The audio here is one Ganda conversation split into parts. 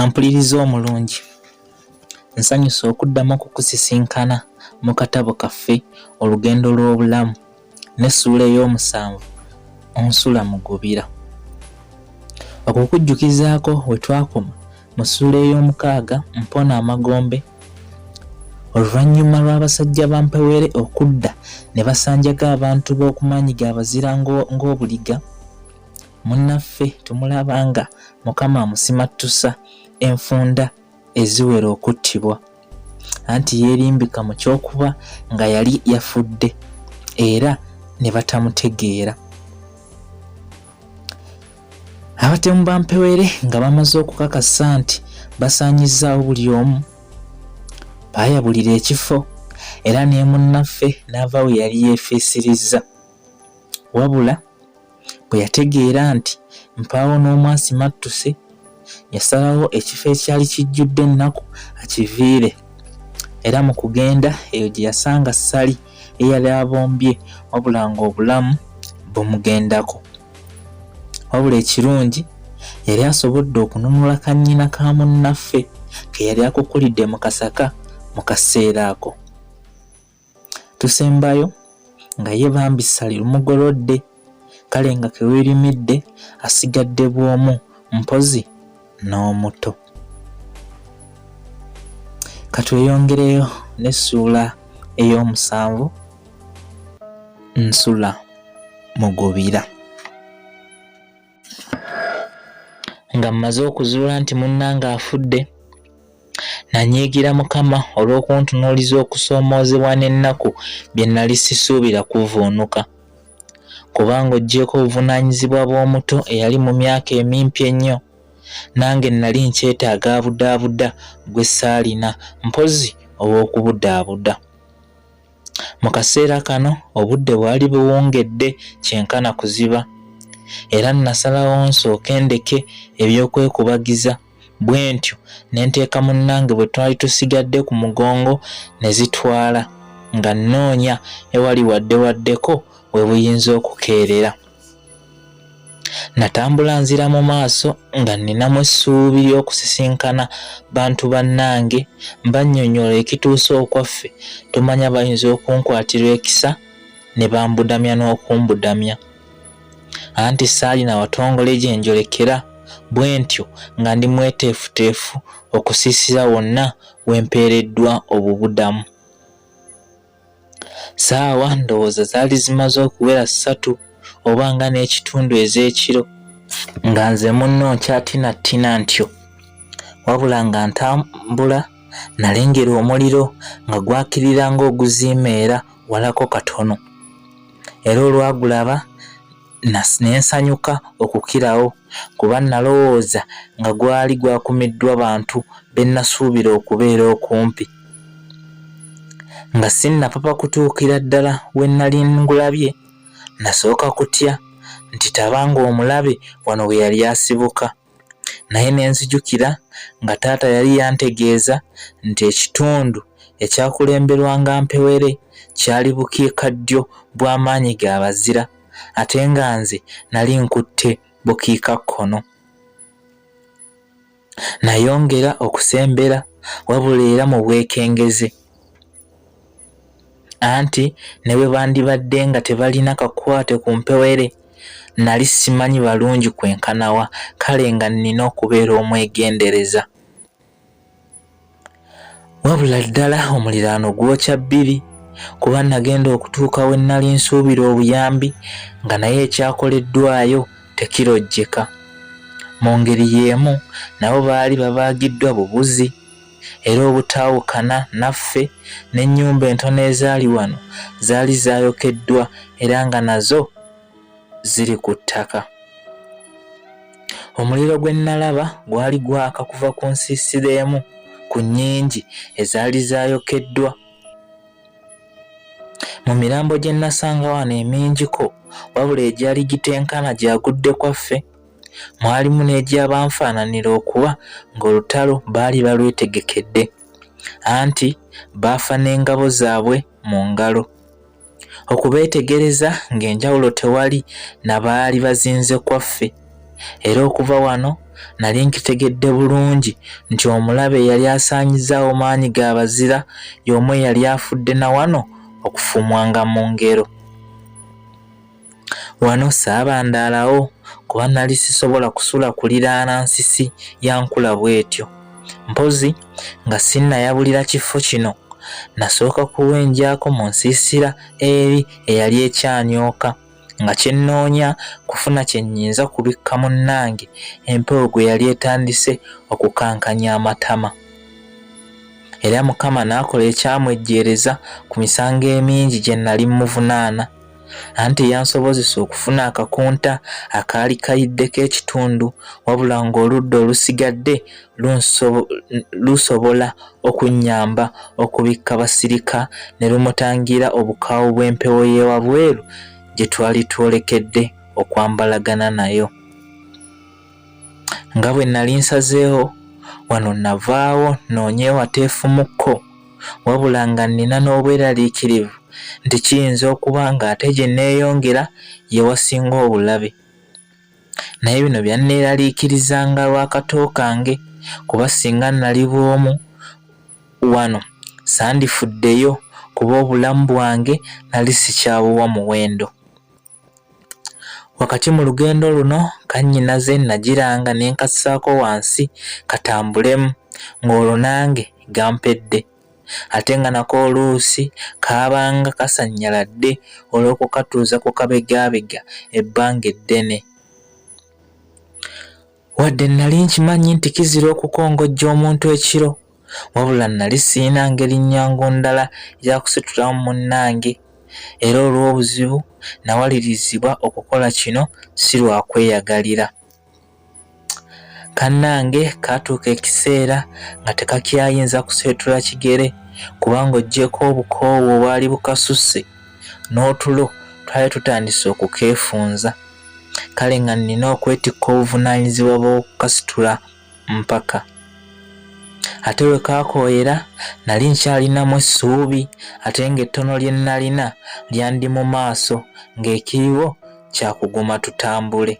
Ampuliriza omulungi, nsanyuse okuddamu okukusisinkana mu katabo kaffe Olugendo lw'Obulamu n'essuula ey'omusanvu Onsula Mugubira. Okukujjukizaako we twakoma, Mu ssuula ey'omukaaga mpona amagombe Oluvannyuma lw'abasajja ba Mpewere okudda ne basanjaga abantu b'oku maanyi ga Bazira ng'obuliga, munnaffe tumulaba nga Mukama amusimattusa enfunda eziwera okuttibwa. anti yeerimbika mu ky'okuba nga yali yafudde era ne batamutegeera. Abatemu ba Mpewere nga bamaze okukakasa nti basaanyizzaawo buli omu, baayabulira ekifo era ne munnaffe n'ava we yali yeefiisirizza wabula Bwe yategeera nti mpaawo n'omu asimattuse, yasalawo ekifo ekyali kijjudde ennaku akiviire era mu kugenda eyo gye yasanga Ssali eyali abombye wabula ng'obulamu bumugendako. Wabula ekirungi yali asobodde okununula kannyina ka munnaffe ke yali akukulidde mu kasaka mu kaseera ako. tusembayo nga ye bambi ssali lumugolodde kale nga kewerimidde asigadde bwomu mpozi n'omuto katweyongereyo n'essuula ey'omusanvu nsula mugubira nga mmaze okuzuula nti munnange afudde nanyiigira mukama olw'okuntunuuliza okusoomoozebwa n'ennaku bye nnali sisuubira kuvuunuka kubanga oggyeko obuvunaanyizibwa bw'omuto eyali mu myaka emimpi ennyo nange nnali nkyetaaga abudaabuda gwe saalina mpozi ow'okubudaabuda Mu kaseera kano obudde bwali buwungedde kyenkana kuziba era nasalawo nsooke ndeke eby'okwekubagiza bwe ntyo ne nteeka munnange bwe twali tusigadde ku mugongo ne zitwala nga nnoonya ewali wadde waddeko we buyinza okukeerera. Natambula nzira mu maaso nga nninamu essuubi ly'okusisinkana bantu bannange mbannyonnyola ekituuse okwaffe tomanya bayinza okunkwatirwa ekisa ne bambudamya n'okumbudamya anti saalina watongole gye njolekera bwe ntyo nga ndi mweteefuteefu okusiisira wonna we mpeereddwa obubudamu. Saawa ndowooza zaali zimaze okuwera ssatu oba nga n'ekitundu ez'ekiro nga nze munno nkyatinattina ntyo wabula nga ntambula nalengera omuliro nga gwakirira ng'oguziimeera walako katono era olwagulaba ne nsanyuka okukirawo kuba nnalowooza nga gwali gwakumiddwa bantu be nnasuubira okubeera okumpi. Nga sinnapapa kutuukira ddala we nnali ngulabye, nnasooka kutya nti taba ng'omulabe wano we yali asibuka. naye ne nzijukira nga taata yali yantegeeza nti ekitundu ekyakulemberwanga mpewere kyali bukiika ddyo bw'amaanyi ga bazira ate nga nze nali nkutte bukiika kkono nayongera okusembera wabula era mu bwekengeze anti ne bwe bandibadde nga tebalina kakwate ku mpewere nali simanyi balungi kwenkanawa kale nga nnina okubeera omwegendereza wabula ddala omuliraano gwokya bbiri kuba nagenda okutuuka we nnali nsuubira obuyambi nga naye ekyakoleddwayo tekirojjeka mu ngeri y'emu nabo baali babaagiddwa bubuzi era obutaawukana naffe, n'ennyumba entono ezaali wano zaali zaayokeddwa era nga nazo ziri ku ttaka. Omuliro gwe nnalaba gwali gwaka kuva ku nsiisira emu ku nnyingi ezaali zaayokeddwa. Mu mirambo gye nnasanga wano emingiko, wabula egyali gitenkana gyagudde kwaffe. mwalimu n'egy'abanfaananira okuba ng'olutalo baali balwetegekedde, anti baafa n'engabo zaabwe mu ngalo. Okubeetegereza ng'enjawulo tewali na baali bazinze kwaffe, era okuva wano nali nkitegedde bulungi nti omulabe eyali asaanyizzaawo maanyi ga bazira y'omu eyali afudde na wano okufumwanga mu ngero. Wano saabandaalawo kuba nali sisobola kusula kuliraana nsisi ya nkula bw'etyo. Mpozzi nga sinnayabulira kifo kino, nasooka kuwenjako mu nsiisira eri eyali ekyanyooka nga kye nnoonya kufuna kye nnyinza kubikka munnange empewo gwe yali etandise okukankanya amatama. Era Mukama n'akola ekyamwejjeereza ku misango emingi gye nali mmuvunaana. anti eyansobozesa okufuna akakunta akaali kayiddeko ekitundu wabula ng'oludda olusigadde lusobola okunnyamba okubikka basirika ne lumutangira obukaawu bw'empewo y'ewabweru gye twali twolekedde okwambalagana nayo nga bwe nali nsazeewo wano navaawo noonye ewateefumukko wabula nga nnina n'obweraliikirivu nti kiyinza okuba ng'ate gye nneeyongera ye wasinga obulabe. Naye bino byanneeraliikirizanga lwa kato kange kuba singa nnali bw'omu wano sandifuddeyo kuba obulamu bwange nali sikyabuwa muwendo. Wakati mu lugendo luno kannyinaze nagiranga ne nkassaako wansi katambulemu ng'olwo nange gampedde ate nga nako oluusi kaabanga kasannyaladde olw'okukatuuza ku kabegaabega ebbanga eddene. Wadde nnali nkimanyi nti kizira okukongojja omuntu ekiro, wabula nnali sirina ngeri nnyangu ndala ya kusitulamu munnange, era olw'obuzibu nawalirizibwa okukola kino si lwa kweyagalira. Kannange kaatuuka ekiseera nga tekakyayinza kuseetula kigere kubanga oggyeko obukoowu obwali bukasusse n'otulo twali tutandise okukeefunza. kale nga nnina okwetikka obuvunaanyizibwa bw'okukasitula mpaka ate lwe kaakooyera nali nkyalinamu essuubi ate ng'ettono lye nnalina lyandi mu maaso ng'ekiriwo kya kuguma tutambule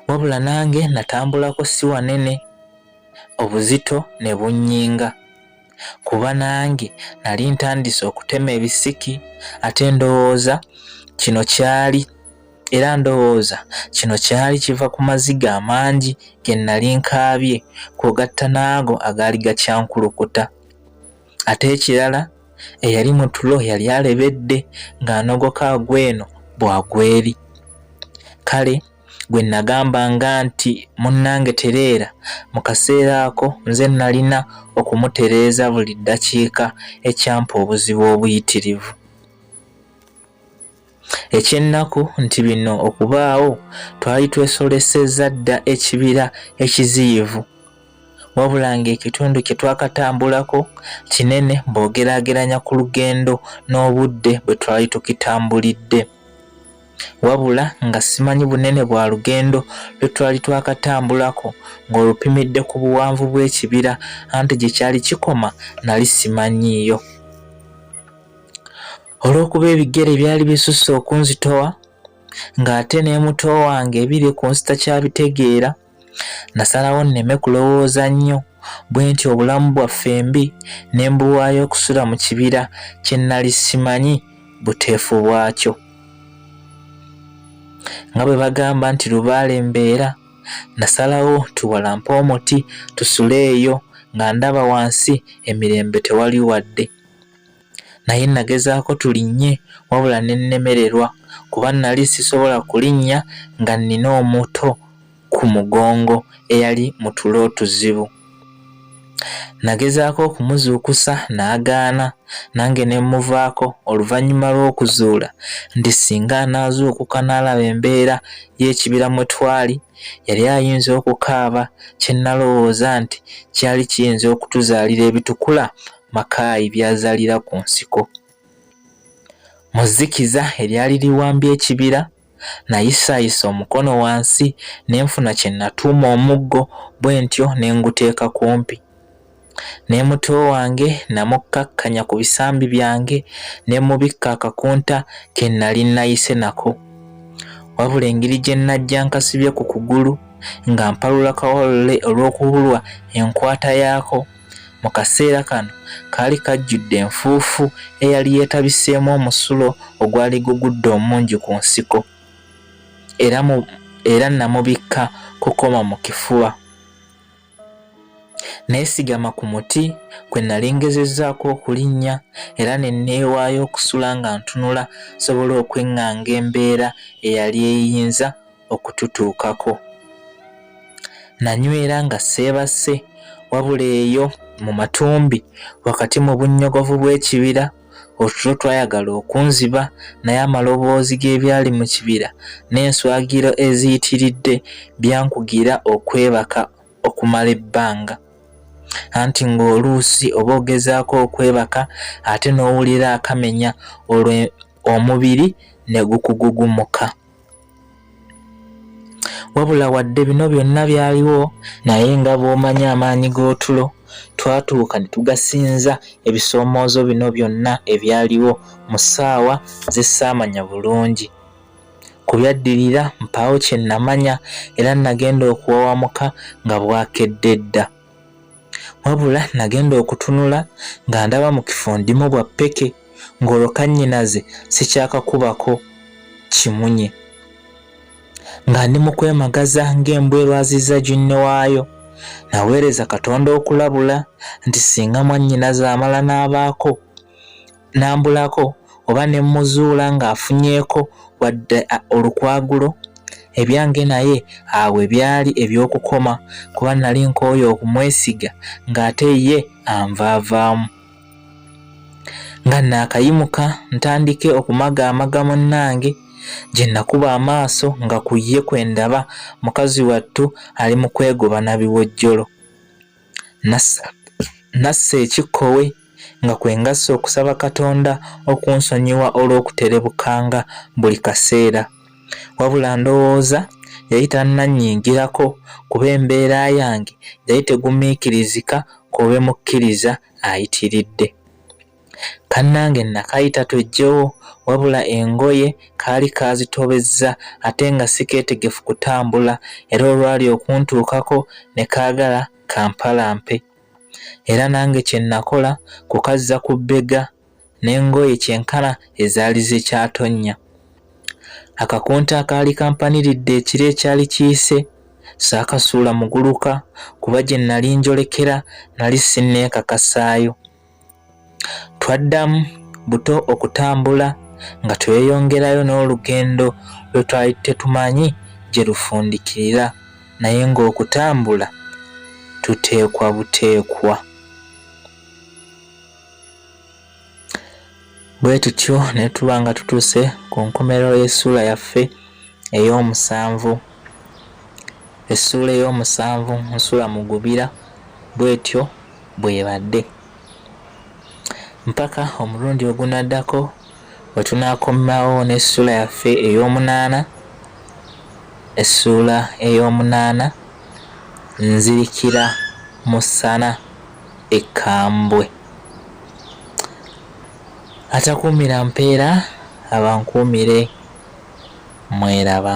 wabula nange natambulako si wanene obuzito ne bunnyinga kuba nange nali ntandise okutema ebisiki ate ndowooza kino kyali era ndowooza kino kyali kiva ku maziga amangi ge nali nkaabye kwogatta n'ago agaali gakyankulukuta ate ekirala eyali mu tulo yali alebedde ng'anogoka agw'eno bw'agw'eri kale gwe nagambanga nti munnange tereera mu kaseera ako nze nalina okumutereeza buli ddakiika ekyampa obuzibu obuyitirivu ekyennaku nti bino okubaawo twali twesolesezza dda ekibira ekiziyivu wabula ng'ekitundu kye twakatambulako kinene bw'ogeraageranya ku lugendo n'obudde bwe twali tukitambulidde wabula nga simanyi bunene bwa lugendo lwe twali twakatambulako ng'olupimidde ku buwanvu bw'ekibira anti gye kyali kikoma nali simanyiiyo olw'okuba ebigere byali bisusse okunzitowa ng'ate n'emuto wange ebiri ku nsita kyabitegeera Nasalawo nneme kulowooza nnyo bwe nti obulamu bwaffe mbi ne mbuwaayo okusula mu kibira kye nnali simanyi buteefu bwakyo. Nga bwe bagamba nti lubaale mbeera, nasalawo tuwalampe omuti tusule eyo nga ndaba wansi emirembe tewali wadde. naye nagezaako tulinnye wabula ne nnemererwa kuba nali sisobola kulinnya nga nnina omuto ku mugongo eyali mu tulo otuzibu. Nagezaako okumuzuukusa n'agaana nange ne mmuvaako oluvannyuma lw'okuzuula nti singa anaazuukuka n'alaba embeera y'ekibira mwe twali yali ayinza okukaaba kye nalowooza nti kyali kiyinza okutuzaalira ebitukula Makaayi by'azaalira ku nsiko. Mu zzikiza eryali liwambye ekibira, nayisaayisa omukono wansi ne nfuna kye natuuma omuggo bwe ntyo ne nguteeka kumpi. Ne muto wange namukkakkanya ku bisambi byange ne mmubikka akakunta ke nnali nnayise nako. Wabula engeri gye nnajja nkasibye ku kugulu nga mpalula kawalule olw'okubulwa enkwata yaako, Mu kaseera kano kaali kajjudde enfuufu eyali yeetabiseemu omusulo ogwali gugudde omungi ku nsiko era mu era namubikka kukoma mu kifuba. Neesigama ku muti kwe nali ngezezzaako okulinnya era ne neewaayo okusula nga ntunula nsobole okweŋŋanga embeera eyali eyinza okututuukako. Nanywera nga seebase wabula eyo mu matumbi wakati mu bunnyogovu bw'ekibira otulo twayagala okunziba naye amaloboozi g'ebyali mu kibira n'enswagiro eziyitiridde byankugira okwebaka okumala ebbanga anti ng'oluusi oba ogezaako okwebaka ate n'owulira akamenya olwo omubiri ne gukugugumuka. wabula wadde bino byonna byaliwo naye nga bw'omanyi amaanyi g'otulo twatuuka ne tugasinza ebisoomoozo bino byonna ebyaliwo mu ssaawa ze ssaamanya bulungi ku byaddirira mpaawo kye namanya era nagenda okuwawamuka nga bwakedde dda wabula nagenda okutunula nga ndaba mu kifo ndimu bwa ppeke ng'olwo kannyinaze sikyakakubako kimunye nga ndi mu kwemagaza ng'embwa erwaziza ginne waayo naweereza katonda okulabula nti singa mwannyinaze amala n'abaako n'ambulako oba ne mmuzuula ng'afunyeeko wadde olukwagulo ebyange naye awo ebyali eby'okukoma kuba nali nkooye okumwesiga ng'ate ye anvaavaamu nga naakayimuka ntandike okumaga amaga munnange gye nakuba amaaso nga ku ye kwe ndaba mukazi wattu ali mu kwegoba na biwojjolo Nassa ekikkowe nga kwe ngassa okusaba Katonda okunsonyiwa olw'okuterebukanga buli kaseera. Wabula ndowooza yali tannannyingirako kuba embeera yange yali tegumiikirizika ku lwe mukkiriza ayitiridde. Kannange nakayita twejjewo wabula engoye kaali kaazitobezza ate nga sikeetegefu kutambula era olwali okuntuukako ne kaagala kampalampe era nange kye nakola kukazza ku bbega n'engoye kyenkana ezaali zekyatonnya. Akakunta akaali kampaniridde ekiro ekyali kiyise saakasuula muguluka kuba gye nali njolekera nali sinneekakasaayo. Twaddamu buto okutambula nga tweyongerayo n'olugendo lwe twali tetumanyi gye lufundikirira naye ng'okutambula tuteekwa buteekwa. Bwe tutyo ne tuba nga tutuuse ku nkomerero y'essuula yaffe ey'omusanvu. Essuula ey'omusanvu nsula mugubira bw'etyo bw'ebadde mpaka omulundi ogunaddako we tunaakomawo n'essuula yaffe ey'omunaana essuula ey'omunaana nzirikira mu ssana ekkambwe. atakuumira mpeera abankuumire mweraba